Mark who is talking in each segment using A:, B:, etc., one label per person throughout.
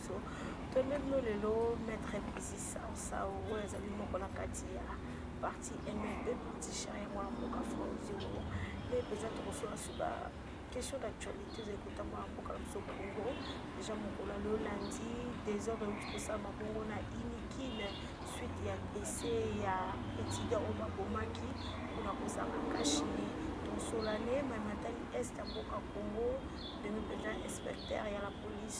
A: biso toyembeli no lelo maître bisi saosao oyo ezali moko na kati ya parti mlb parti char yango ya mboka franzio nde mpenza tokosola suba question d'actualité ezali kotamba na mboka na biso congo deja mokolo ya lolandi desordre euti kosalama bongo na inikine suite ya dese ya etida oyo babomaki mpona kozanga kashine tosolane mai matali est ya mboka congo ndenge mpenza inspecteur ya la police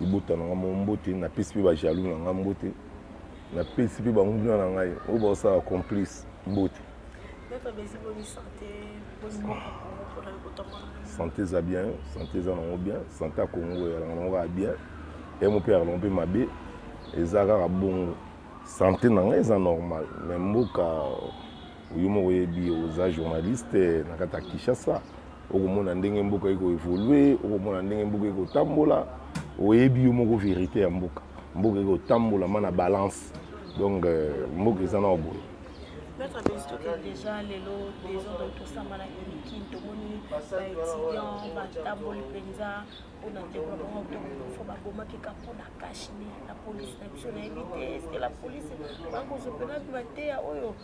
B: libota na ngai moko mbote napesi mpe bajalou na ngai mbote napesi mpe banguna na ngai oyo baosala complice mbote sante eza bien sante eza nango bien sante ya kongo eyalaka nango kaka bien emo mpe yalaka mpe mabe eza kaka bongo sante na ngai eza normal me mboka oyo moko oyebi oza journaliste na kati ya kinshasa okomona ndenge mboka ekoevolue okomona ndenge mboka ekotambola oyebi yo moko verité ya mboka mboka ekotambolama na balance donc euh, mboka eza na boye peut-être abenzi
A: tokende déjà lelo desordre tosamba na unikin tomoni baétudiant batamboli mpenza mpona développement tokofo babomaki ka mpona kashmir na polise na biso nayebi te eske la polise bakozopela mpe bateya oyo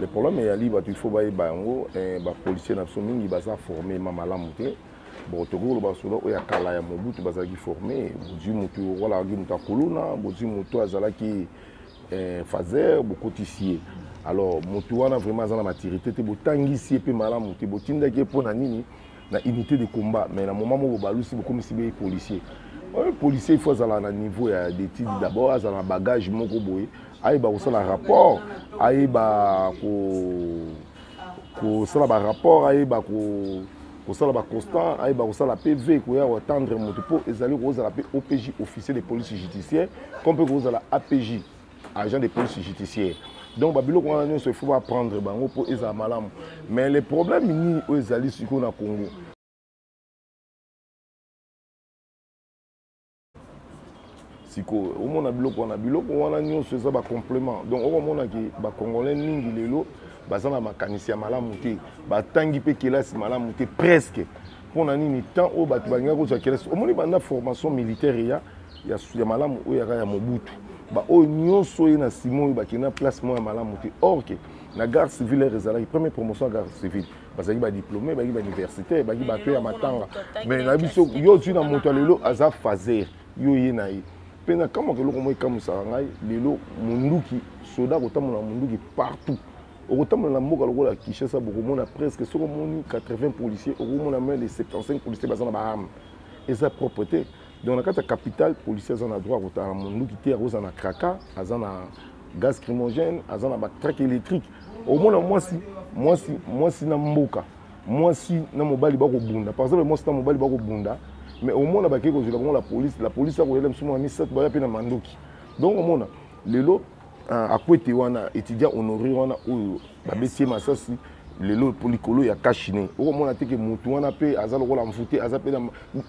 B: le problème eyali bato il faut bayeba yango eh, bapolicier na biso mingi baza forme ma malamu te bon tokoki koloba soda oyo ya kala ya mobutu bazalaki forme bozwi motu okolakaki moto ya kuluna bozwi motu azalaki eh, fazer bokotisi ye alors motu wana vraiment aza na maturité te botangisi ye mpe malamu te botindaki ye mpo na nini na unité de combat mais na moment moko balusi bokomisi be policier oyo policier il faut azala na niveau ya d'étude ah. d'abord azala na bagage moko boye ayeba kosala rapport ayeba ko kosala barapport ayeba ko kosala baconstant ayeba kosala pv koya koatendre moto mpo ezali kozala mpe opj officier de police judiciaire to mpe kozala apj agent de police judiciaire donc babiloko wana nyonso ifo baprendre bango mpo ezala malamu mais le problème nini oyo ezali sikoyo na congo sikoyo omona biloko wana biloko wana nyonso eza bacomplement donc okomonaki bacongolais mingi lelo baza na makanisi ya malamu te batangi mpe kelasi malamu te presque mpo na nini temps oyo bato balingaki kozwa kelasi omoni banda formation militaire eya ya, ya malamu oyo yaka ya mobutu baoyo nyonso oye na nsima oyo bakende na place moko ya malamu te or ke na garde civile ere ezalaki première promotion ya garde civile bazalaki badiplome bazalaki bauniversitaire bazalaki bato ya matanga mais na biso yo ozwi na moto ya lelo aza faser yo oye na ye mpe nakamwaka eloko moko ekamwisaka ngai lelo monduki soda akotambola na monduki partout okotambola na mboka lokola kinshasa bokomona presque soki omoni 80 policier okomona mai de 75 policier baza na baarme eza propre te donc na kati ya capitale policier aza na droit akotala monduki te akozala na kraka aza na gaz crimogène aza na batraque électrique omona mwasi mwasi mwasi na mboka mwasi na mobali bakobunda par exemple mwasi na mobali bakobunda mais omona bakei kozwela bango la police la police akoyela biso mwa misato baya mpe na mandoki donc omona lelo Ah, akwete wana étudiant honoré wana oyo babeti ye masasi lelo mpo likolo ya kashine okomona te ke motu wana mpe aza lokola mvute aza mpe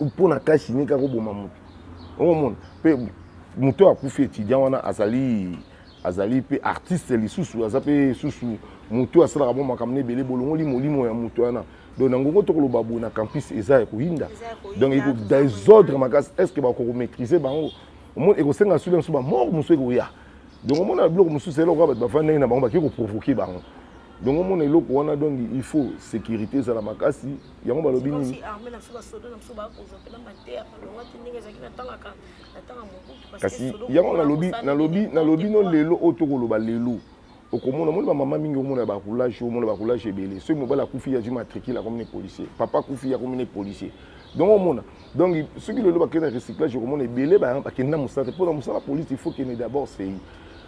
B: mpo na kashine kaka oboma motu okomona mpe moto oyo akufi étudiant wana azali azali mpe artiste lisusu aza mpe susu motu asalaka mwa makambo na ebele bolongoli molimo ya motu wana donc na ngongo tokoloba boye na campus eza ya koyinda donc eko desordre makasi est ce que bakokomaîtrise bango omoni ekosenga sudi mosusu bamort mosusu ekoya donc omona biloko mosusu eloko ya bato bafandi ndenge na bango bakei koprovoke bango donc omona eloko wana donc il faut sécurité ezala makasi yango balobi nini kasi yango nalobi nalobi nalobi no lelo oyo tokoloba lelo okomona omoni bamama mingi omona ya baroulage omona baroulage ebele soki mobali akufi azwi matricule akomi ne policier papa akufi akomi ne policier donc omona donc soki lelo bakende na recyclage okomona ebele bakende na mosala te mpo na mosala polisi il faut kende d'abord sei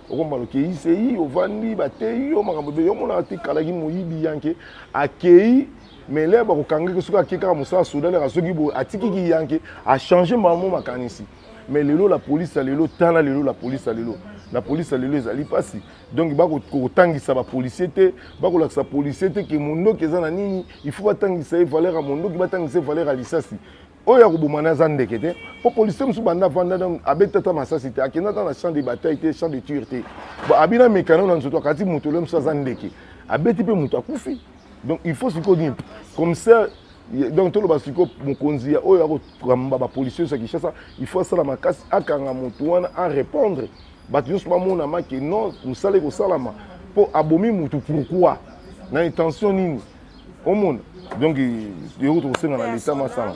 B: okomona okei sei ovandi bateyi yo makambo ebele omonaka te kalaki moyibi yanke akei mais lere bakokangaki soki akei kaka mosala soda lere soki boye atiki kiyanke achange mamo makanisi mais lelo la police ya lelo tala lelo la police ya lelo la police ya lelo ezali mpasi donc bakotangisa bapolicier te bakolakisa policier te ke mondoki eza na nini il faut batangisa ye valeur ya mondoki batangisa ye valeur ya lisasi oyo ya koboma na aza ndeke te mpo policier mosusu banda avanda abeta ata masasi te akenda ata na champ de bataille te champ de ture te abina mekano na nzoto akati moto lelo mosusu aza ndeke abeti mpe moto akufi donc il faut sikoyo nini commissaire donc toloba sikoyo mokonzi ya oyo akokamba bapolisier nyonso ya kinshasa il faut asala makasi akanga motu wana arépondre bato nyonso bamonama ke non mosala ekosalama mpo abomi motu pourquoi na intention nini omona donc yango tokosenga na leta masala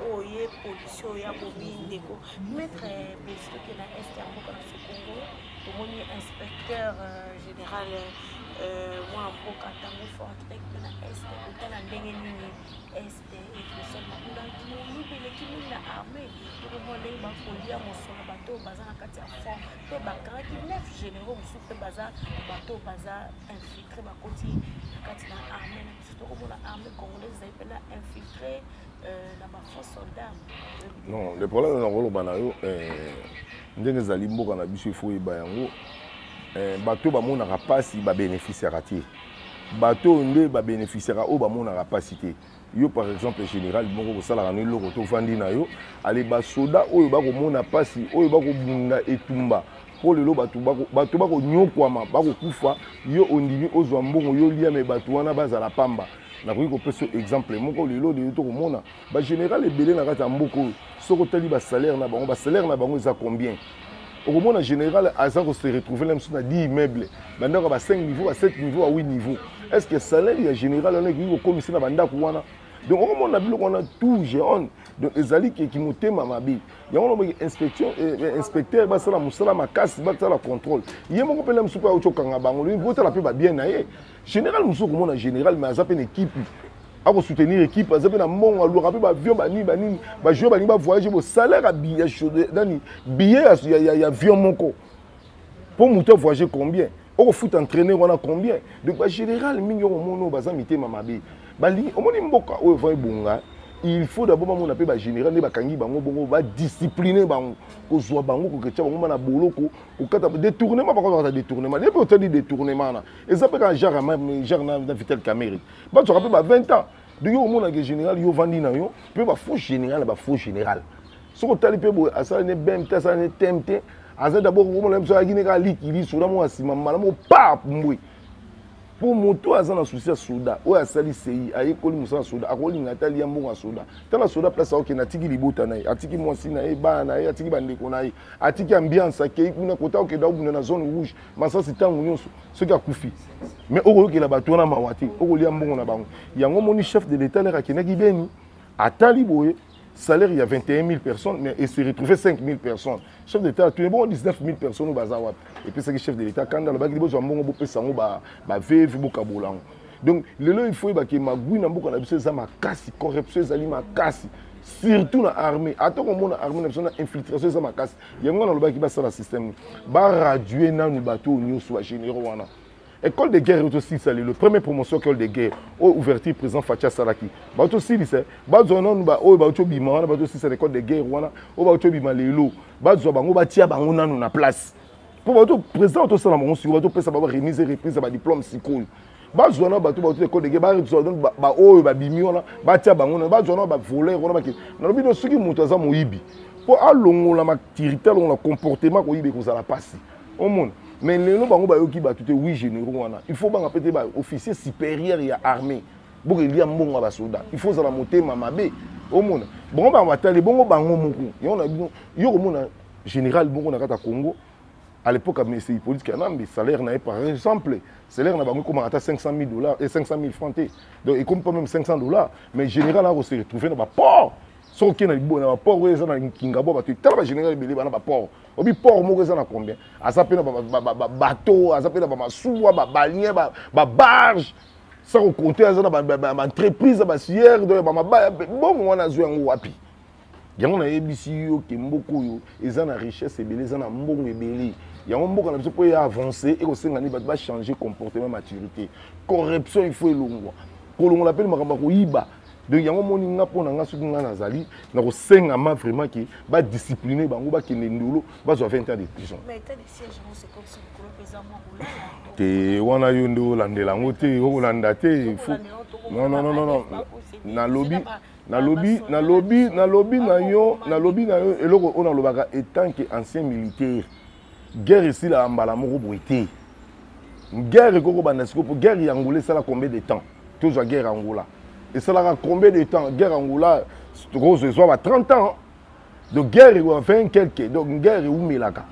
A: oyo ye pollution ya bobi ndeko maître eh, bostoke na est ya mboka na sokongo tomoni inspecteur euh, général euh, mwana mboka ntango fortec mpe na est kotala ndenge nini est ekosala kuna moyibi eleki mingi na armée tokomona ndenge bakolia mosolo bato oyo baza na kati ya fond mpe bakangaki neuf généraux mosusu mpe baza bato oyo baza infiltré bakoti na kati na armée na biso tokomona armée congolaise ezali mpe na infiltré non le
B: problème na koloba na yo eh, ndenge ezali mboka na biso ifo oyeba yango eh, bato bamonaka mpasi babénéficiaka te bato oyo nde babénéficiaka oyo bamonaka mpasi te yo par exemple général moko kosalaka no eloko to ofandi na yo ale basoda oyo bakomona mpasi oyo bakobunda etumba mpo lelo bato bakonyokwama bakokufa yo ondimi ozwa mbongo yo liame bato wana bazala pamba nakoki kopesa exemple moko lelo lelo tokomona bagénéral ebele na kati ya mboka oyo soki otali basalaire na bango basalaire na bango eza combien okomona général aza kose retrouve na biso na 10 immeuble bandako ya ba 5 niveau ba 7 niveau ya 8 niveau est ce que salaire ya général wana ekoki kokomisa na bandako wana donc okomona biloko wana tout géone donc ezali keki motema mabe yango nabaki inspection eh, eh, inspecteur basala mosala makasi basala contrôle ye moko mpela mosuku auti okanga bango botala mpe babien na ye général mosusu okomona général mais aza mpe na ekipe akosoutenir équipe aza mpe na mbongo alwaka mpe baavion banini banini bajoueur balingi bavoyage bosalaire nani billet ya avion moko mpo moto avoyage combien okofuta entraîneur wana combien donc bagénéral mingi okomona oyo baza mitema mabe balingi omoni mboka oyo va ebonga il faut d'abord bamona mpe bagénéral nde bakangi bango bongo badiscipline bango kozwa bango koketya bango ma na boloko kokata détournement bakozakata détournement nde mpe otali détournement wana eza mpe kaka jacques jacques na vitel camere batswaka mpe ba 20 ans donc yo omonake général yo ovandi na yo mpe bafaux général na bafaux général soki otali mpe boye asala ne bem te asala ne tem te aza dabord omona biso ayaki ne kaka likili soda moko asima mbala moko pa mbwe mpo moto aza na susi ya soda oyo asali sei ayekoli mosala soda akolinga ata liya mbongo ya soda tala soda place akokende atiki libota na ye atiki mwasi na ye bana na ye atiki bandeko na ye atiki ambiance akei kuna kota okende akobunda na zone rouge masasi ntango nyonso soki akufi mais okoyokela bato wana mawa te okolia mbongo na bango yango omoni chef de l'état lere akendaki beni atali boye salaire ya 21 000 personnes mais ese retrouve 5 000 personnes chef de l'état atuni bongo 19 000 personnes oyo baza wapi epesaki chef de l'état kanda alobaki li bozwa mbongo bopesa yango baveve bokabola yango donc lelo il faut yebake magui na mboka na biso eza makasi corruption ezali makasi surtout na armée ata komona armée na biso na infiltration eza makasi yango nalobaki basala système baradue nanu bato oyo nyonso bagénéraux wana école de guerre tosilisa lelo premier promotion école de guerre oyo oh, ouverture président faci asalaki bato tosilisa bazwa nanu oyo bauti obima wana bato tosilisa na école de guerre wana oyo bauti obima lelo bazwa bango batia bango nanu na place mpo bato président tosala bango sikoyo bato topesa bango remise reprise ya badiplome sikoyo bazwa na bato bauti ekode ke bazwa baoyo babimi wana batya bango na bazwa na bavoler wana bakende nalobi no soki moto aza moyibi mpo alongola matirite alongola comportement koyiba ekozala mpasi omona mais lelo bango bayoki bato te wi généraux wana il faut banga mpe te baofficier supérieur ya armée bokelia mbongo ya basoda il faut ozala motema mabe omona bango bango batali bongo bango moko yango na bino yo komona général bongo na kati ya congo à l'époque amisi hippolyte kanambe salaire na ye par exemple salaire na bango ekomaka ata 500 000 dollars et 500 000 francs te donc ekomi pas même 500 dollars mais général ako se retrouver na baport soki okei na libo na baport oyo eza na nkingabo bato tala bagénéral ebele bana baport obi port moko eza na combien aza mpe na babato aza mpe na bamasuwa babalien babarge sa kokonte aza na baentreprise ya basiere donc ya bamabaya bongo wana azwi yango wapi yango nayebisi yo ke mboka oyo eza na richesse ebele eza na mbongo ebele yango mboka na biso mpo eya avance ekosenga nini bato bachange comportement maturité corruption il faut elongwa kolongola mpe makambo ya koyiba donc yango omoni nga mpo na nga soki ngai nazali nakosengama vraiment ke badiscipline bango bakende ndolo bazwa 20 ans de prison
A: te wana
B: yo nde olandela yango te okolanda te nalobi nalobi nalobi nalobi na yo nalobi na yo eloko oyo nalobaka etant que ancien militaire guerre esilaka mbala moko boye te guerre ekoki kobanda siko mpo guerre ya angola esala combien de temps tozwa guerre ya angola esalaka combien de temps guerre ya angola rose ezwa ba 30 ans donc guerre ekoka 20 quelque donc guerre eumelaka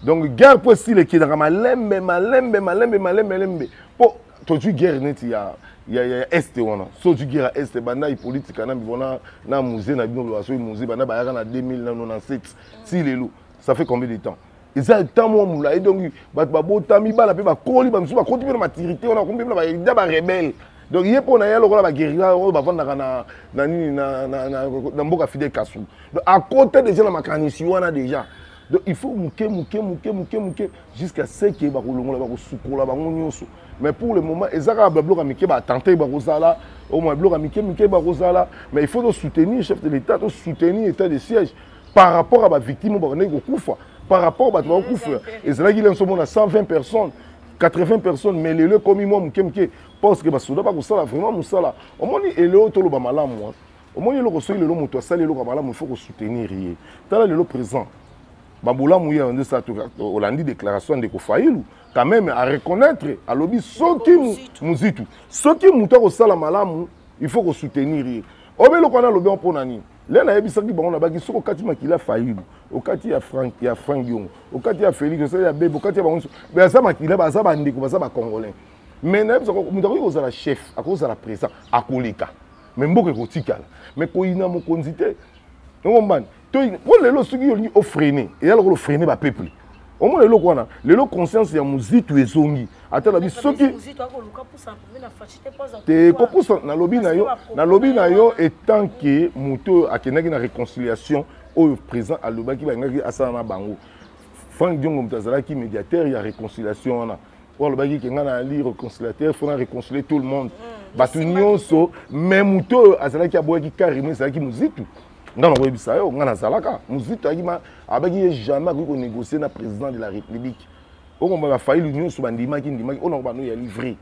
B: donc guerre mpo esila ekendaka malembe malembe malembe malembe malembe mpo tozwi guerre neti ya ya ya est wana so ozwi guerre ya est banda hippolyte kanambi bona na musée na bino loba soki musée banda bayaka na 2000 na 97 si lelo ça fait combien de temps eza temps mwa molai donc bato babotami bana mpe bakoli bamisusu bakoti mpe na matirité wana bakomi mpe na baida barebele donc ye mpo na ye lokola baguerilla oyo bafandaka na na nini na mboka fidel kasu donc akota deja na makanisi wana deja donc il faut moke moke moke moke moke jusqu'à ce que bakolongola bakosukola bango nyonso mais pour le moment eza kaka babiloko ya mike batante bakozala omoi biloko ya mike mike bakozala mais il faut tosoutenir chef de l'état tosoutenir état de siège par rapport à bavictime oyo bakendaki kokufa par rapport bato bakokufa ezalaki lenso mona 120 personnes 80 personnes mais lelo ekomi mwa moke moke parce que basoda bakosala vraiment mosala omoni eleo toloba malamu omoni eloko soki lelo moto asali eloko ya malamu il faut kosoutenir ye tala lelo présent babolamu ye nde sa olandi déclaration ya ndeko failu quand même à reconnaître alobi soki muzitu soki moto akosala malamu il faut kosoutenir ye obe eloko wana alobi mpo na nini le nayebisaki bango nabaki soki okati makila failu okati ya frank ya frank yongo okati ya félix osali ya bebe okati ya bango nyonso baza makila baza bandeko baza bacongolais mais nayebisa moto akoki kozala chef akoki kozala présent akoleka mais mboka ekotikala mais koyina mokonzi te okombani mpo lelo soki olingi ofrene eza lokola ofrene bapeuple omona eloko wana lelo conscience ya mozitu ezongi ata nabi soki te kopusa nalobi na yo nalobi na yo etant ke moto oyo akendaki na réconciliation oyo président alobaki balingaki asala na bango frank diongo moto azalaki médiateur ya réconciliation wana oyo alobaki ke ngai nali reconciliateur fona reconcilie tout le monde mm. bato nyonso mais moto oyo azalaki aboyaki carrément ezalaki mozitu ngai nakoyebisa yo ngai nazalaka mozitu ayaki abaki ye jamais akoki konégocier na président de la république okomba bafaili nyonso bandimaki ndimaki oyo nakobanda oyali vrai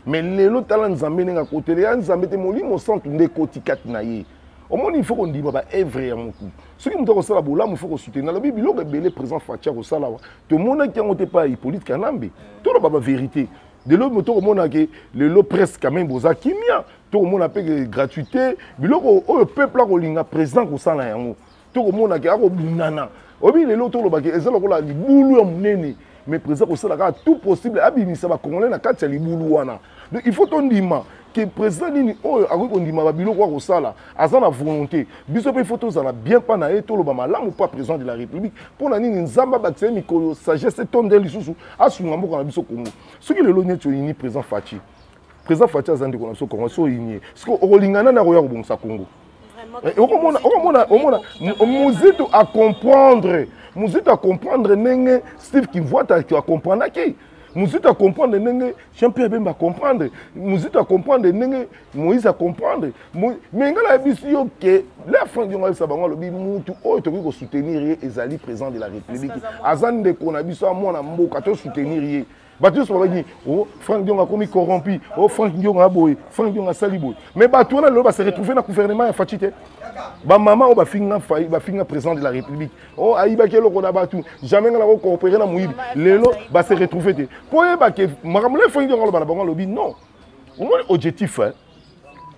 B: mais lelo tala nzambe ndenge akotele ya nzambe te molimo santu nde ekoti kati na ye omoni ifo kondima baevre ya motu soki moto akosala bolamu ifo kosuteni nalobi biloko ebele présent faci akosala wa tomonaki yango te pa hippolite kanambe toloba baverité lelo moto okomona ke lelo presse quand même boza kimia tokomona mpe gratuité biloko oyo peuple akolinga président kosala yango tokomona ke akobundana oyebi lelo tolobaki eza lokola libulu ya monene mais président kosala kaka tout possible abimisa bacongolais na kati ya libulu wana donc il faut tondima ke président nini oyo akoki kondima babiloko ya kosala aza na volonté biso mpe faut tozala bien mpa na ye toloba malamu mpo président de la république mpo na nini nzambe abakisa ye mikolo sagesse etonde lisusu asunga mboka na biso congo soki lelo neti oyini président faci président faci aza ndeko na biso congo so oyinie sikoyo okolingana nde akoya kobongisa congo Eh, okomona okomona omona muzito acomprendre muzito acomprendre ndenge steve kivuata acomprendaki muzito acomprendre ndenge jean pierre bemba acomprendre muzito acomprendre ndenge moïse acomprendre me ngai nayebisi yo ke la franc diongo ayebisa bango alobi mutu oyo tokoki kosoutenir ye ezali président de la république aza ndeko na biso ya mwana mboka tosoutenir ye bato nyonso babaki o oh, frank diongo akomi corrompu o oh, frank diongo aboye frank diongo asali boye mais bato wana lelo base retrouve na gouvernement ya faci te bamama oyo bafinga bafinga président de la république o oh, ayibaki eloko na bato jamais nga nakokoopere na moyibi lelo base retrouve te mpo oyebake makambo na frank diongo aloba na bango alobi non omoni objectif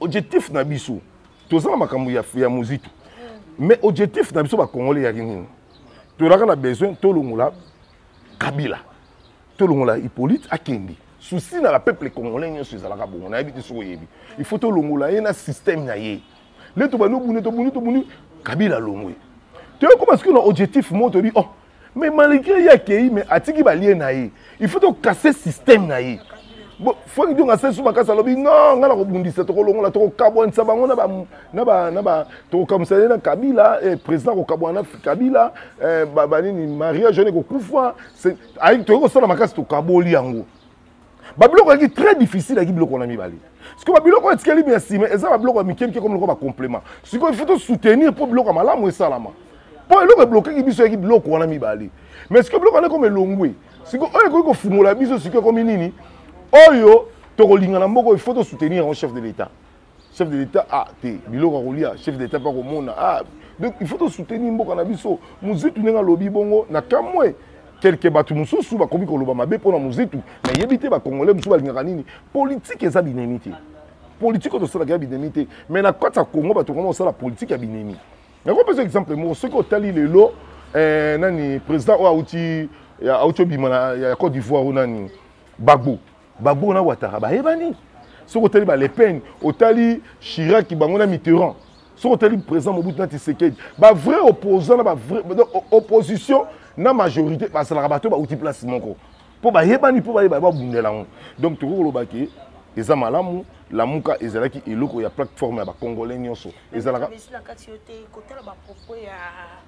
B: objectif na biso toza na makambo ya, ya mozitu mais objectif na biso bacongolais yaki nini tolaka na besoin tolongola kabila tolongola hippolyte akende souci na la peuple congolais nyonso ezalaka bongo nayebi te soki oyebi il faut tolongola ye na système na ye nde tobandi obuni tobuni tobuni kabila alongwe toyokoma soki na objectif moko toyebi oh mais malgré ye akei mais atiki balie na ye il faut tokase système na ye fo kidonga sesu makasi alobi no ngai nakobundisa tokolongola tokokabwanisa bango na na ba na ba tokokamwisa ye na kabila eh, président kokabwana na kabila eh, banini mariage wana ekokufa toyei kosala makasi tokaboli yango babiloko yaki très difficile yaki biloko wana mibale sikoyo babiloko oyo etikali mia nsima eza babiloko ya mike mike komi loko bacomplément sikoyo ifo tosoutenir mpo biloko ya malamu esalama mpo eloko eblokaki biso yaki biloko wana mibale mais sikoyo biloko wana ekomi elongwe sikoyo oyo ekoki kofungola biso sikoyo ekomi nini oyo tokolingana moko ifo tosoutenir yango chef de l'état chef de l'État a ah, te biloko ya kolia chef de l'État mpe akomona ah, donc il faut tosoutenir mboka na biso mozitu ndenge alobi bongo na kamwe kelke bato mosusu bakomi koloba mabe mpo na mozitu nayebi te bakongole mosusu balingaka nini politike eza binemi te politike oyo tosalaka ya binemi te mais na kati ya congo bato koma kosala politike ya binemi nakopesa exemple moko soki otali lelo eh, nani président oyo auti auti obima ya cote d'ivoire oyo nani gbagbo Gbagbo na Ouattara bayebani. Soki otali ba Le Pen, otali Chirac bango na Mitterrand. Soki otali président Mobutu na Tshisekedi, ba vrai opposant na ba vrai opposition na majorité bazalaka bato bauti place moko. Mpo bayebani mpo bayeba babundela yango. Donc tokoki koloba ke eza malamu lamuka ezalaki eloko ya plateforme ya bacongolais nyonso ezalaka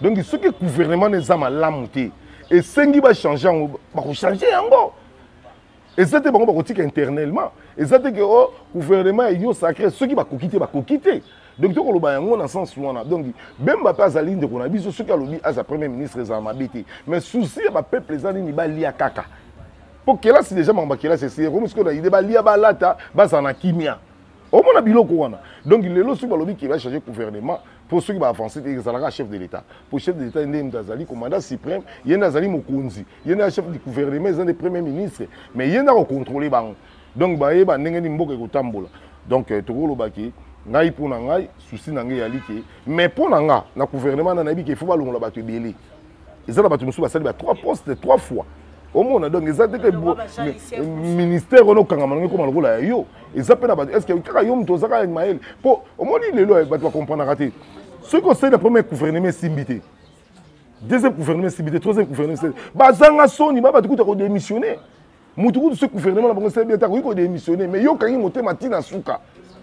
B: donc soki gouvernement na eza malamu te esengi bachange yango bakochange yango eza te bango bakotika internellement eza te ke o oh, gouvernement union sacré soki bakoki te bakoki te donc tokoloba yango na sens wana donc bemba mpe azali ndeko na biso soki alobi aza premier ministre ezala mabe te mais souci ya bapeuple eza nini balia kaka mpo kelasi deja makambo ya kelasi esi ekomi sikoyo na ide balia balata bazala na kimia omona biloko wana donc lelo soki balobi ke bachange gouvernement mpo soki baavance te ezalaka chef de l'état mpo chef de l'état nde moto azali commandant suprême ye nde azali mokonzi ye nde chef du gouvernement eza nde premier ministre mais ye nde akocontrole bango donc bayeba ndenge nini mboka ekotambola donc euh, tokolobaki ngai mpo na ngai susi na ngai eyali ke mais mpo na nga na gouvernement na nayebi ke ifo balongola bato ebele eza na bato mosusu basali ba trois poste trois fois omona donc eza te ke ministère wana okangama ndenge ekoma lokola ya yo eza mpe na bato estce kaka yo moto ozaka mayele mpo omoni lelo eh, bato bakomprenaka te soki osali na premier gouvernement esimbi te deuxième gouvernement esimbi te troisième gouvernement esimbi te bazanga soni ba bato kuta kodémissionne motu kutu soki gouvernement na bango esali bien te akoki kodémissionne mais yo okangi motema ti na suka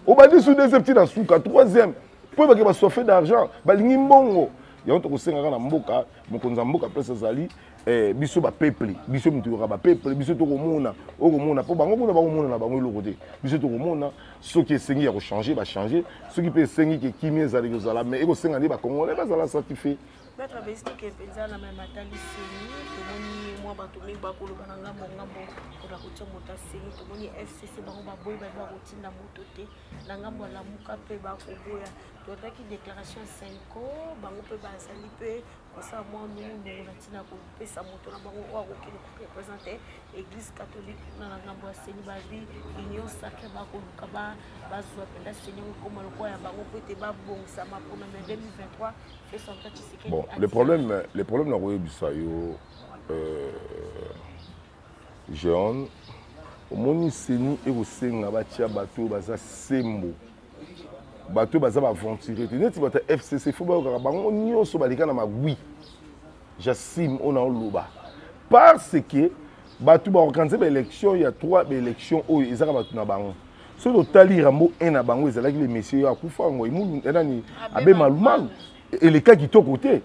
B: obandi su deuxième ti na suka troisième mpo ebake basoife d'argent balingi mbongo yango tokosengaka na mboka mokonzi ya mboka place azali eh, biso bapeuple biso moto yoka bapeuple biso tokomona okomona mpo bango kuna bakomona na bango eloko te biso tokomona soki esengi ya kochange bachange soki mpe esengi ke kimia ezali kozala mai ekosenga nde bacongolais bazala satisfait
A: Notre bestique mpenza na meme atali seni tomoni mwa bato mingi bakoloba na ngambo ngambo mpona kotia moto ya seni tomoni fcc bango baboyi baye bakotinda moto te na ngambo ya lamuka mpe bakoboya totaki déclaration ya senco bango mpe bazali mpe kosala mwa nungunungu na ntina kopesa moto na bango oyo akokende korepresente église catholique kuna na ngambo ya seni babi union sacre bakoluka bazwa mpenza seni yango ekoma lokola ya bango mpo ete babongisama mpona mai 2023 bon le problème
B: le problème nakoyebisa yo euh, jean omoni seni ekosenga batya bato oyo baza sembo bato oyo baza baaventurier te neti bato ya fcc fo bayokaka bango nyonso baleka na magui jasime oyo naoloba parce que bato baorganize baélection ya trois baélection oyo ezaka bato na bango soki totali rambo 1 na bango ezalaki le monsieur akufa yango imulu eh, nani abe malumalu eleka kitoko te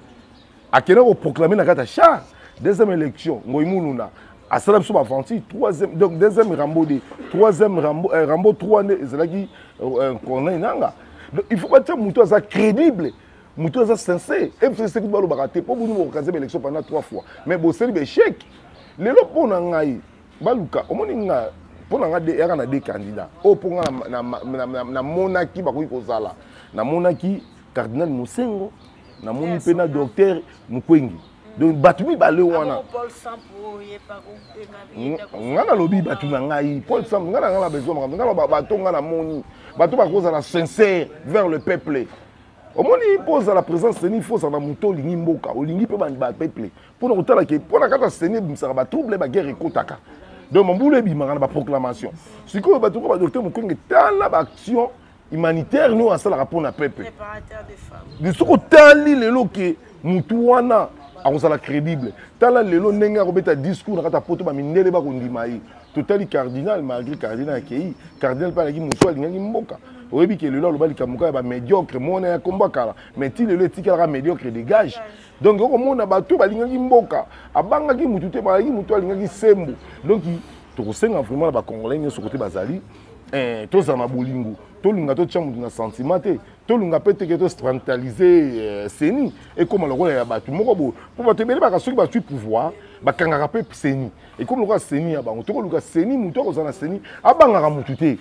B: akenda koproclame na kati ya char deuxième élection ngoi muluna asala biso baventure troisième donc deuxième rambo de troisième rambo, euh, rambo 3 nde ezalaki euh, corneille nanga donc il faut batia moto aza crédible moto eza sincere ebiseli sekutu balobaka te mpo boni bokokaze baélection pendant trois fois mais boseli baéchec lelo mpo na ngai baluka omoni nga mpo na ngai yaka na de candidat oyo mpo ngai namonaki bakoki kozala namonaki cardinal mosengo namoni mpe na docteur mokwengi donc bato mibale wana nga nalobi bato na ngai paul sample nga na ngai na besoin makambo nga bato nga namoni bato bakozala sincere vers le peuple omoni mpo ozala président seni fo ozala na moto olingi mboka olingi mpe bapeuple mpo na kotala ke mpo na kaka seni ebimisaka batrouble baguerre ekotaka donc mambulu ebimaka na baproclamation sikoyo bato ko badokter mokenge tala baaction humanitaire nio asalaka mpo na peuple soki otali lelo ke motu wana akozala crédible tala lelo ndenge akobeta discours na kati ya poto bamindele bakondima ye totali cardinal malgré cardinal akei cardinal mpe alaki mosu alingaki mboka oyebi ke lelo aloba likambo kaka ya bamédiocre mona ya kombo kala mais ti lelo etikalaka médiocre dégage donc okomona bato balingaki mboka abangaki motu te balaki motu alingaki sembo donc tokosenga vraiment na bacongolais nyonso kote bazali eh, tozala na bolingo tolinga totya motu na sentiment te tolunga mpe teke tocentralise euh, seni ekóma lokola ya bato moko boye mpo bato ebele baka soki bazwi pouvoir bakangaka mpe seni ekomi lokola seni ya bango tokoluka seni motu akozala na seni abangaka motu te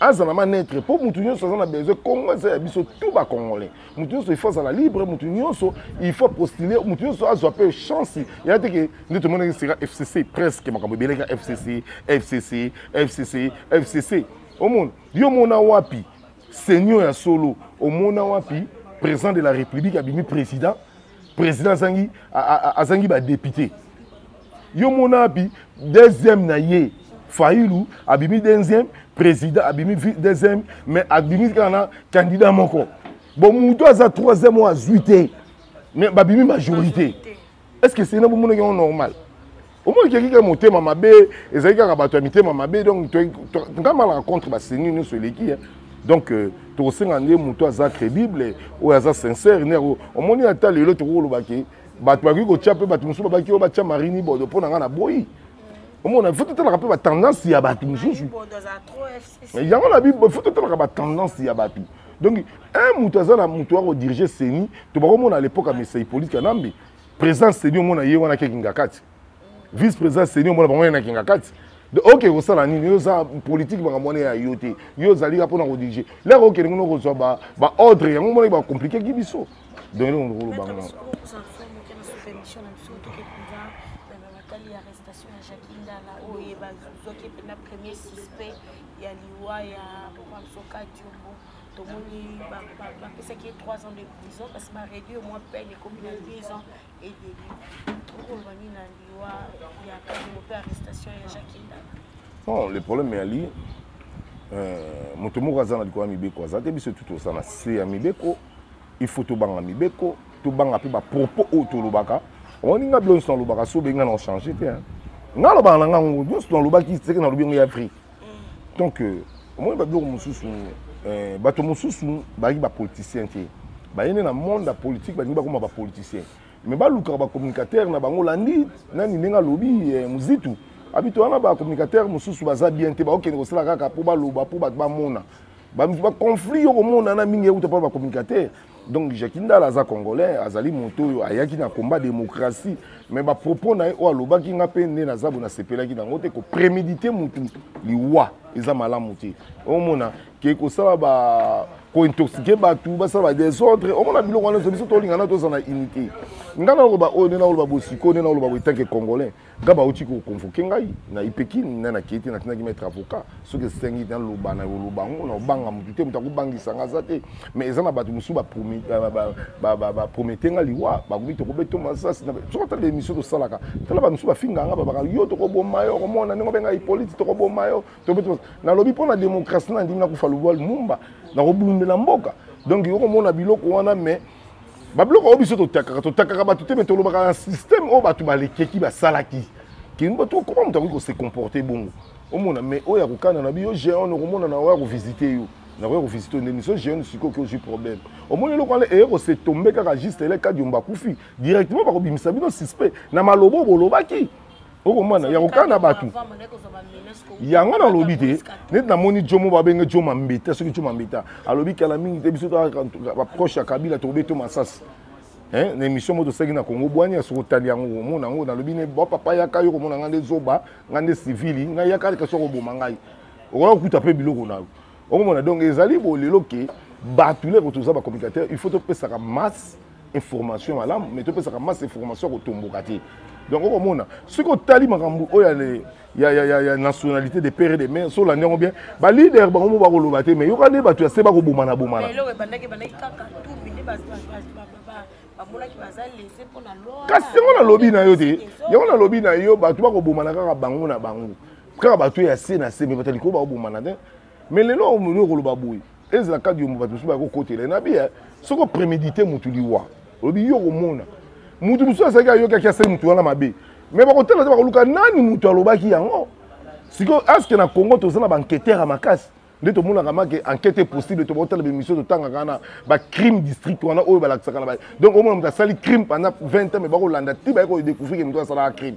B: azala manetre mpo motu nyonso aza na besoin congo eza ya biso tout bacongolais motu nyonso ifo azala libre motu nyonso ifo apostule motu nyonso azwa mpe chance ya te ke nde tomonaki sika fcc presque makambo ebeleka fcc fcc fcc fcc omona yo omona wapi senio ya solo omona wapi président de la république abimi président président azangi azangi badepute yo mona abi deuxième na ye failu abimi deuxième président abimi deuxième mais abimi kaka na candidat moko bon moto aza troisième oyo azwi te mais babimi majorité est ce que sena bomonaki yango normal omoni keki kaka motema mabe ezali kaka bato ya mitema mabe donc ngai malaka contre baseni nyonso eleki donc euh, tokosenga nde moto aza crédible oyo aza sincère nde omoni ata lelo tokoki kolobaki bato bakoki kotya mpe bato mosusu babaki oyo batya marini bodo mpo na ngai na boyi omona fo totalaka mpe batendance ya bato mosusu yango na bible fo totalaka batendance ya bato donc un moto aza na moto ya kodirige seni tobakomona à l'époque ya mesa hippolite kanambe présence seni omona ye wana kekingakati vice président seni omona bango na kingakati oke kosala nini yo oza politike makambo wana ya yo te yo ozali ka mpona kodirige leka okende kuna kozwa baordre yango omonaki bakomplikeki biso donc eloko ndokoloba ngo bazwaki
A: mpena premier suspect ya liwa ya papa msoka diombo tomoni bapesaki ye 3 ans de prison kasi bareduire mwa peine ekomi na 10 ans edeli okoloba nini na liwa ya kabelo mpe arrestation ya jacques ndala bon le
B: problème yali euh, moto moko aza na likolo ya mibeko aza te biso tu toza na se ya mibeko il faut tobanga mibeko tobanga mpe bapropos oyo tolobaka omoni nga bilonso nalobaka so obengi nga na ochange te nga alobaka na nga ngo nyonso nalobaki seke nalobi yango ya afrique donc euh, omoni babiloko mosusu euh, bato mosusu bayaki bapoliticien te baye nde na monde ya politike balingi bakoma bapoliticien mais balukaka bacommunicateur na bango landi nani ndenge alobi euh, mozitu abito wana bacommunicateur mosusu baza bien te bakokende kosala kaka mpo baloba mpo bato bamona baconflit yo komonana mingi euta mpo bacommunicateur donc jacki ndala aza congolais azali moto oyo ayaki na combat démocratie mais bapropos na ye oyo alobaki nga mpe nde naza bo nasepelaki nango te kopremedite motu liwa eza malamu te omona ke kosala ba kointoxike bato basala badesordre omona biloko wana nyonso biso tolingana tozala na unité ngai nakoloba oyo nde nakoloba bosiko nde nakoloba boye tanke congolais nga bauti koconvoke ngai na ipekin na nakei te natindaki maître avocat soki esengi te naloba na yoloba yango na obanga motu te moto akobangisa nga aza te mais eza na bato mosusu bapromete nga liwa bakomi tokobeto masasi soki ata baémission tosalaka tala bamosusu bafinga nga babaka yo tokoboma yo okomona ndenge obenga hippolite tokoboma yo tokobeto nalobi mpo na démocratie na ndimi nakufa lubwa lumumba nakobundela mboka donc okomona biloko wana mais babiloko oyo biso totakaka totakaka bato te me tolobaka na systeme oyo bato balekeki basalaki kemba to koma moto akoki kose comporte bongo omona me oyo ya kokana na biyo géon okomona na oyo ya kovisite yo nakoya kovisite nde miso géon sikoyo oki ozwi problème omoni eloko wana eye kose tombe kaka juste eleka diomba akufi directement bakobimisa bino suspect na maloba oyo bolobaki okomana ya kokana bato yango nalobi te neti namoni jomo babenge jo mambeta soki jo mambeta alobi kala mingi te biso baproche ya kabila tokobeto masasi na émission moko tosalaki na congo bwani ya soki otali yango omona yango nalobi ne bapapa yaka yo komona ngai nde zoba ngai nde civili ngai yaka leka soki okoboma ngai okoya kokuta mpe biloko na yo okomona donc ezali bolelo ke bato leko toza bacommunicateur il faut topesaka masse information malamu mais topesaka masse information ya kotomboka te donc okomona soki otali makambo oyo ya, ya, ya, ya nationalité de père et de mère solandi yango bien baleader bango mo bakoloba te mais yoka nde bato ya se bakobomana bomana
A: kasi yango nalobi na yo
B: te yango nalobi na yo bato bakobomana kaka bango na bango kaka bato ya se na se me batali ko bakobomana te mais lelo omoni okoloba boye ezala kadi yombo bato mosusu bakokotela nabi eh, soki oprémédité motu liwa olobi yo okomona motu mosusu azalaki ayokaki asali motu wana mabe mais bakotala te bakoluka nani motu alobaki yango sikoyo aske na congo toza na baenquêteur ya makasi nde tomonaka make enquête possible to botala bemission totangaka wana bacrime district wana oyo balakisaka na donc omona moto asali crime pendant 20 ans mais bakolanda ti baye kodécouvrir moto asalaka crime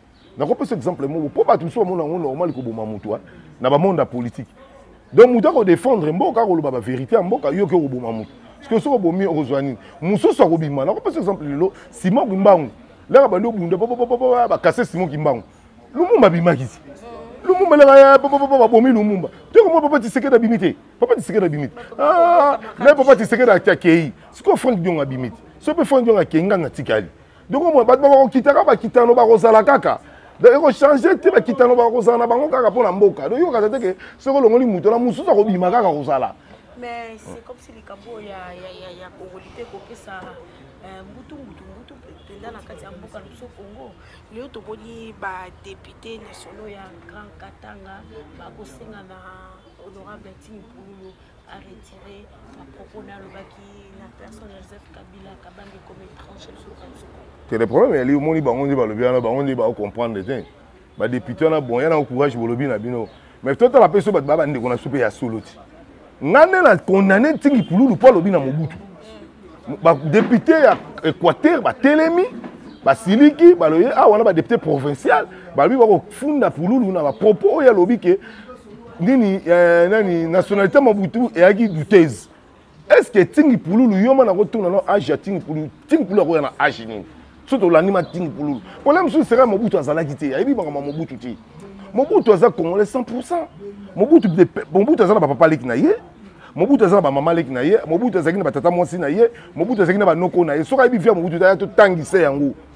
B: nakopesa exemple moko mpo bato mosusu bamona yango normal koboma moto na bamonde ya politike donc moto akodefendre mboka akoloba baverité ya mboka yo oke okoboma moto soki soki obomi okozwa nini mosusu akobima nakopesa exemple lelo simon kimbangu laka bandi obunda bakase simon kimbangu lumumba abimaki ti lumumba laka babomi lumumba tokomona papa tisekedi abimi te papa tisekedi abimi te ah, na papa tisekedi akei sikoyo frank diongo abimi te soki mpe frank diongo akei ngai natikali donc omona bato bakokitaka bakitano bakozala kaka donc ekochange te bakitano bakozala na bango kaka mpo na mboka donc yokaka te ke soki olongoli moto na mosusu akobima kaka kozala mais c'est
A: comme si likambo ya, ya, ya, ya kongoli mpe kokesa euh, mbutu mbutu mbutu mpenza na kati ya mboka na biso congo lelo tomoni badepute nationaux ya grand katanga bakosenga na honorable tim pululu aretire bapropos na alobaki na personne ya joseph kabila kabambi ekomi étranger na mboka nsuku te le problème yali omoni bango
B: nde balobi wana bango nde baocomprendre te badepute wana bon yana courage bolobi na bino mais totala mpe so bato baa bandeko na so mpe ya solo ti ngai nde na condamne ntingi pululu mpo alobi na mobutu badepute ya équateur batelemi basiliki baloye awa ah, na badepute provincial balobi bakofunda pululu na bapropos oyo alobi ke nini eh, nani nationalité mabutu eyaki douteuse est ce que tingi pululu yo ma nakotuna no age ya tingi pululu tingi pululu akoya na age nini so tolandi ma tingi pululu problème mosusu seka mobutu azalaki te ayebi makambo ya mobutu te mobutu aza congolais 100 pourcent mobutu mobutu aza na bapapa leki na ye mobutu aza na bamama leki na ye mobutu azalaki na batata mwasi na ye mobutu azalaki na banoko na ye soki ayebi via mobutu aya totangisa yango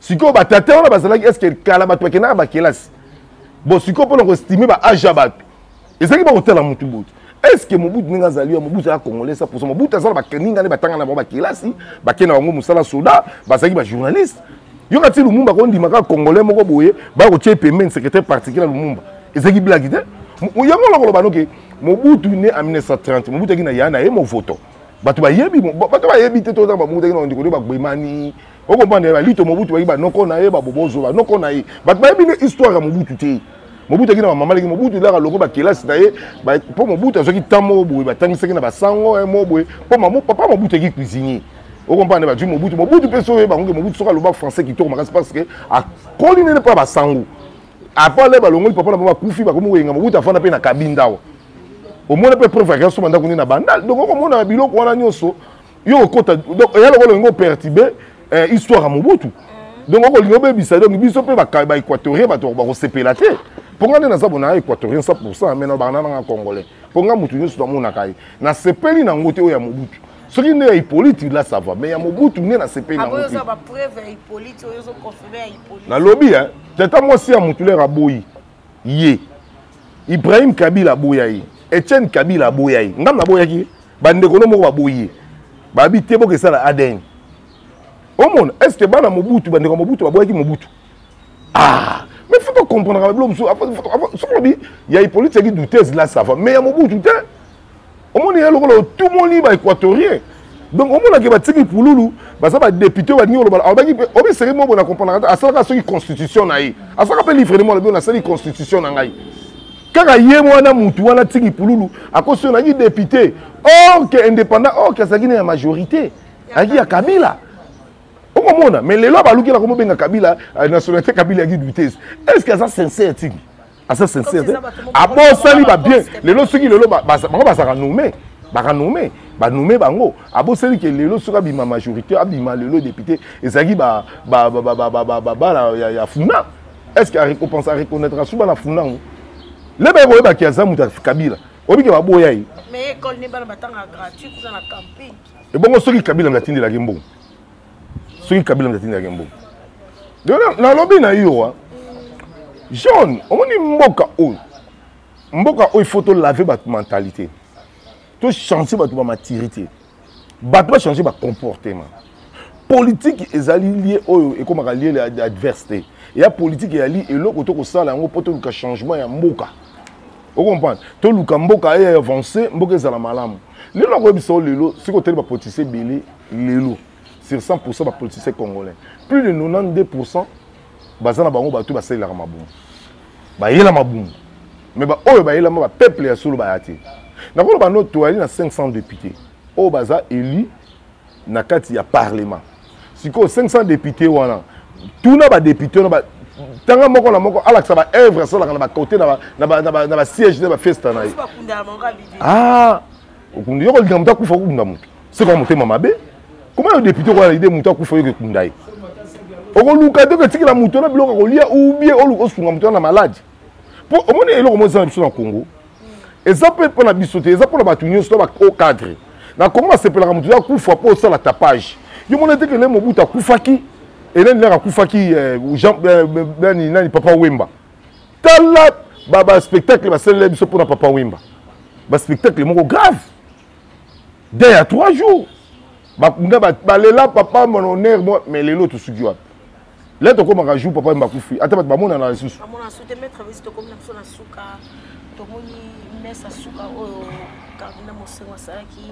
B: sikoyo batata wana bazalaki eske kala bato bakendaka bakelasi bon sikoyo mpona koestime ba age ya bato ezalaki bakotala motu botu eske mobutu ndenge azali yo mobutu aya congolais sa posa mobutu azala baninga nde batanga na bango bakelasi bake na bango mosala soda bazalaki bajournaliste yo kati lumumba kondima kaka congolais moko boye baya kotya ye pembeni secrétaire particulier ya lumumba ezalaki blaki te yango nakoloba noke mobutu ne en 1930 mobutu aki na ya na ye movoto bato bayebi bato bayebi te tozala babutu aki na ondikoli bagbemani okomprendre balito mobutu bayi banoko na ye babobozo banoko na ye bato bayebi nde histoire ya mobutu te mobutu aki na bamama leki mobutu elaka loko bakelasi na ye mpo mobutu azwaki ntan moko boye batangisaki na basango mo boye mpo papa mobutu eki cuisinier okomprendre bazwi mobutu mobutu mpe soki oyebango ke mobutu soki aloba français kitoko makasi parce que akoli nene mpo ya basango apart le balongoli papa na bango bakufi bakomi koyenga mobutu afanda mpe na kabinda awa omona mpe preuve ya gasoma ndako nde na bandal donc okomona biloko wana nyonso yo okota donc eya lokola olingi opertibe eh, histoire ya mobutu mm. donc okolingi obebisa donc biso mpe baéquatorien bato bakosepela te mpo ngai nde naza bona équatorien 100 pourcent me na bana nanga congolais mpo ngai motu nyonso namonaka ye nasepeli na yango te oyo ya mobutu soki nde ya hippolyte la sava mais ya mobutu nde nasepeli nango nalobi tata mwasi ya motulere aboyi ye ibrahim kabila aboya ye etienne kabila aboya ye ngambo naboyaki ye bandeko no moko baboyi ye babi te boka esala adn omona est ce que bana mobutu bandeko ya mobutu baboyaki mobutu ah mais faut tocomprendaka babilo mosusu soki lobi ya hippolite seki doutese la sava mais ya mobutu te omoni ye lokola otumoli ba équatorien donc omonaki batiki pululu baza badepute oyo balingi koloba alobaki mpe obi seri mobo na comprendre te asalaka soki constitution na ye asalaka mpe livrement alobi oyo nasali constitution na ngai kaka ye wana mutu wana tiki pululu akosi oyo naki depute or ke indépendant or ke azalaki na ya majorité ayaki ya kabila okomona mais lelo abalukela komobenga kabila euh, nationalité kabila yaki dutese est ce que aza sincère tiki aza sincere te abosani babien lelo soki lelo bango bazalaka nome bakanome banome bango aboseli ke lelo soki abima majorité abima lelo député ezalaki babala ya funa est ce que arecopense areconnaitre asuba na funa yango lebe koyebaki aza moto ya kabila obike baboya ye
A: ebongo soki
B: kabila mnatindelaki mbongo soki kabila moto atindaki mboka nalobi na yo wa jaune omoni mboka oyo mboka oyo ifo tolave bato mentalité tochange bato bamaturité bato bachange bacomportement politiki ezali lie oyo ekomaka lie ya adversité ya politiki eyali eloko tokosala yango mpo toluka changement ya mboka okomprendre toluka mboka eye avance mboka ezala malamu lelo nakoyebisa o lelo soki otali bapolitise ebele lelo sur 100% ba politiciens congolais plus de 92% baza na bango bato basalelaka mabumu bayela mabumu mais baoyo bayelama bapeuple ya solo baya te nakoloba no toyali na 500 député oyo baza élu na kati ya parlement sikoyo 500 député wana tuna badepute wana tanga moko na moko alakisa baœuvre asalaka na bacote na basiège na bafesta na ye okunda yo kolinga moto akufa okunda moto sikoya motema mabe koma yo depute okoya na ide moto akufa yo kokunda ye okoluka te oketikela moto na biloko akolia ubie oluka osunga moto na maladi mpo omoni eloko mo eza na biso na congo eza mpe mpo na biso te eza mpo na bato nyonso to bao cadre na congo basepelaka moto akufa mpo osala tapage yo mona te kele mobutu akufaki eleni laka akufaki eh, eh, nani papa wemba tala baspectacle basalela biso mpona papa wimba baspectacle moko grave de ya trois jours nga balela papa mon honneur moi mais lelo tosuki wapi le tokomaka jour papa wimba akufi ata bato bamonana lisusu tomoni mesa suka
A: oyo kabila mosengo asalaki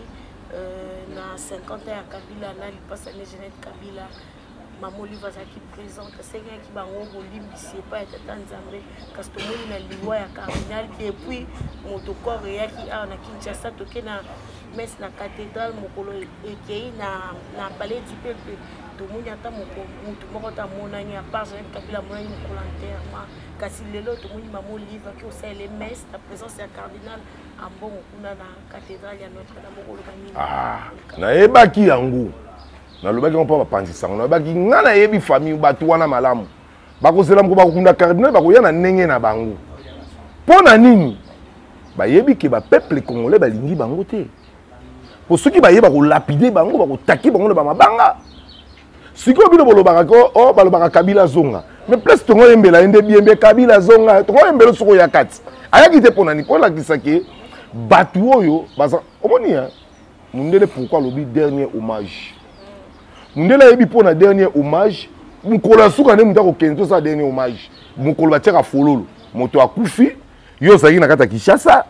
A: euh, na 50 ya kabila na lipasa ne genete kabila mama olive azalaki présente asengaki bango bolimbisi epai ya tata nzambe kasi tomoni na liwa ya cardinal depuis moto corps eyaki awa na kinshasa toke na messe na cathédrale mokolo ekei na, na palais du peuple tomoni ata moto moko ata amonani apart jean kabila amonani mokolo enterrement kasi lelo tomoni mama olive aki osalele messe na présence ya cardinal ambongo kuna na cathédrale ya notre dame okoloba nini ah, nayebaki
B: yango nalobaki yango mpo bapanzi sango nalobaki ngai nayebi famille bato wana malamu bakozela moko bakokunda cardinal bakoya na ndenge na bango mpo na nini bayebi ke bapeuple congolais balingi bango te mpo soki baye bakolapide bango bakotaki bango na bamabanga sikoyo bino bolobaka ko o oh, balobaka kabila azonga me place tongo oyembela ye nde biyembe kabila azonga tongo oyembela soki oya kati ayaki te mpo nani mpo olakisa ke bato oyo baza omoni mundele pourquoi alobi dernier hommage mundele ayebi mpo na dernier hommage mokolo ya suka nde moto akokende tosala dernier hommage mokolo batiaka fololo moto akufi yo ozalaki na kati ya kinshasa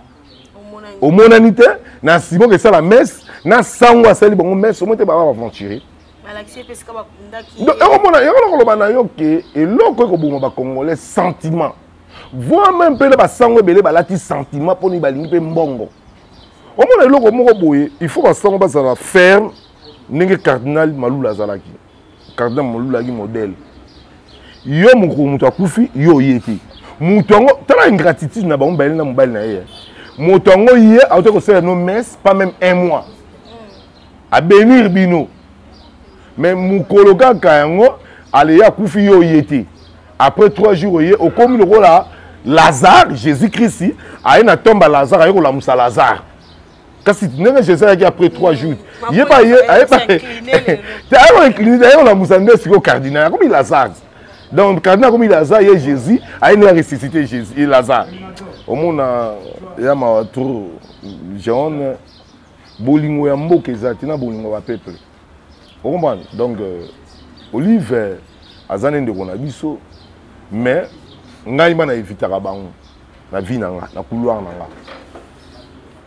B: omonani te na nsima okesala messe na sango asali bango messe omoi te baba baventurier
A: ekomona yango nakoloba
B: na yo ke eloko ekoboma bacongolais sentiment voi meme mpe na basango ebele balati sentiment mpo nini balingi mpe mbongo omona eloko moko boye il faut basango bazala ferme ndenge cardinal malula azalaki cardinal malula azalaki modèle yo mokolo moto akufi yo oye te moto yango tala ingratitude na bango mibale na mobali na ye eh. moto yango ye auta kosala no messe pas même un mois abenir bino mais mokolo kaka yango aleya akufi yo oye te après trois jours oye okomi lokola lazare jésus christ aye na tomba lazare aye kolamusa lazare kasi ndenge jésus ayaki après trois jours ye baye aye baye te aye koincline aye kolamusa nde sikoyo cardinal akomi lazare donc cardinal akomi lazare ye jésus aye nde aressuscité jésus ye lazare omona ya mawa trop jaune bolingo ya mboka eza te na bolingo ya bapeuple okomprendre donc euh, olive aza nde ndeko na biso mais ngai ma na evitaka bango na vie na nga na couloir na nga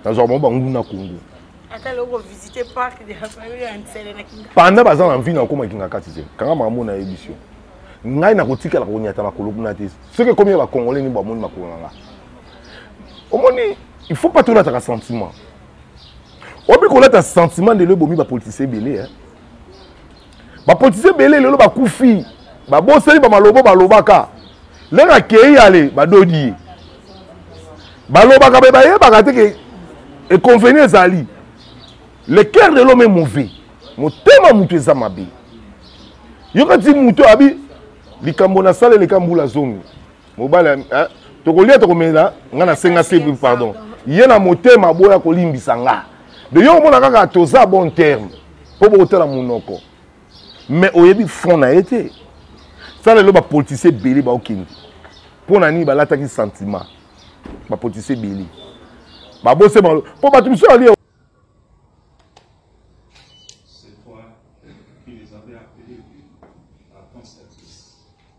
B: nazwaka bango banguna kongo
A: panda baza na mvina okoma
B: kinga kati te kanga makambo na yebisi yo ngai nakotikala konyata makolo kuna te soki ekomi ya bacongolais nini bamoni makolo na nga omoni il faut pas tolataka sentiment obi kolata sentiment ndelo ebomi bapolitisien ebele eh? bapolitisien ebele lelo bakufi babosani bamalobo balobaka ndenge akei ale badodi ye balobaka me bayebaka te ke econveni ezali le cœur de l'homme est mauvais motema moto eza mabe yoka ti moto abi likambo nasala eleka mbula zomi mobali eh, tokolia tokomela nga nasenga se pardon ye na motema boya kolimbisa nga de yo omona kaka toza bon terme mpo bokotala monoko mais oyebi fond na ye te sa lelo bapolitisien ebele baokende mpo na nini balataki sentiment bapolitisien ebele babose bango mpo bato mosusu alie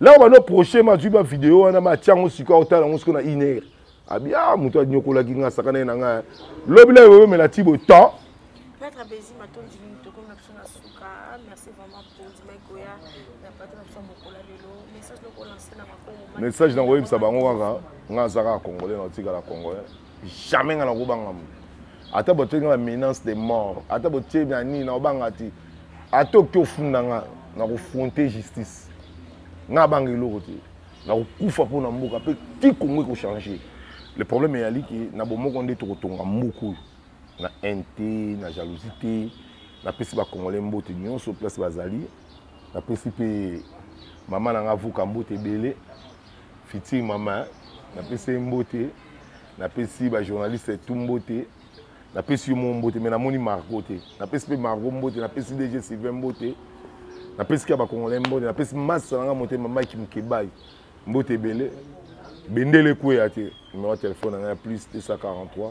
B: Là on va prochain ma juba vidéo wana ma tiango siko otala ngo siko na iner. Abi ah mutu anyokola ki nga sakana na nga. Lobi la yo mela tibo temps. Maître Bezi
A: matondi ni toko na biso na suka. Ah, merci vraiment pour ndima ekoya na patro na biso mokola lelo. Message noko lancer na makongo. Message na ngoyebisa bango
B: kaka nga zaka congolais na tika la congolais. jamais nga nakobanga moto ata botoki nga bamenance de mort ata botie na nini nakobanga te ata oki ofunda nga nakofronte justice nga abanga eloko te nakokufa mpo na mboka mpe ti kongo ekochange le problème eyali ke na bomoko nde tokotonga mboka oyo na haine te na jalousie te napesi bacongolais mbote nyonso place bazali napesi mpe mama na nga avuka mbote ebele fitire mama napesi ye mbote napesi bajournaliste etumbo te napesi yo moko mbote me namoni marco te napesi mpe marco mbote napesi dg sylvain mbote napesi kaka bacongolai mbote napesi masa na nga motema mike mokebai mbote ebele bendele ekweya te numero ya telefone na ngai ya plus 243